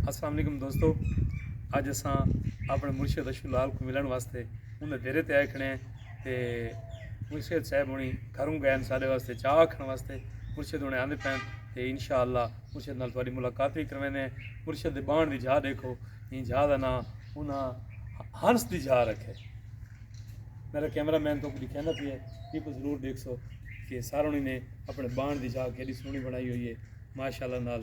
السلام علیکم دوستو اج اساں اپنے مرشد اشو لال کو ملن واسطے انہیں دیرے تے آئے کھڑے ہیں تے مرشد صاحب ہونی گھروں گئے ہیں سارے واسطے چاہ آکھن واسطے مرشد ہونے آندے پہن تے انشاءاللہ مرشد نال تھوڑی ملاقات بھی کروینے ہیں مرشد دے بان دی جھا دیکھو ان جھا دا نا انہاں ہنس دی جھا رکھے میرا کیمرہ مین تو کچھ کہنا پہ ہے یہ کو ضرور دیکھ سو کہ سارونی نے اپنے بان دی جھا کے سونی بنائی ہوئی ہے ماشاءاللہ نال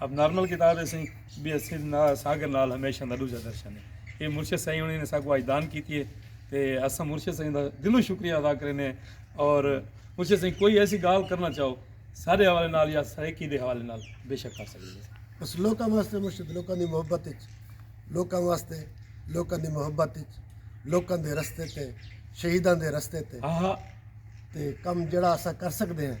اب نارمل کتاب ہے سائیں بی ایس سی ساگر نال ہمیشہ دا دوجا درشن ہے یہ مرشد سائیں انہیں نے ساکو آج دان کیتی ہے تے اسا مرشد سائیں دا دلوں شکریہ ادا کرنے اور مرشد سائیں کوئی ایسی گال کرنا چاہو سارے حوالے نال یا سرائیکی دے حوالے نال بے شک کر سکتے ہیں بس لوکاں واسطے مرشد لوکاں دی محبت اچ لوکاں واسطے لوکاں دی محبت اچ لوکاں دے رستے تے شہیداں دے رستے تے ہاں ہاں تے کم جڑا اسا کر سکتے ہیں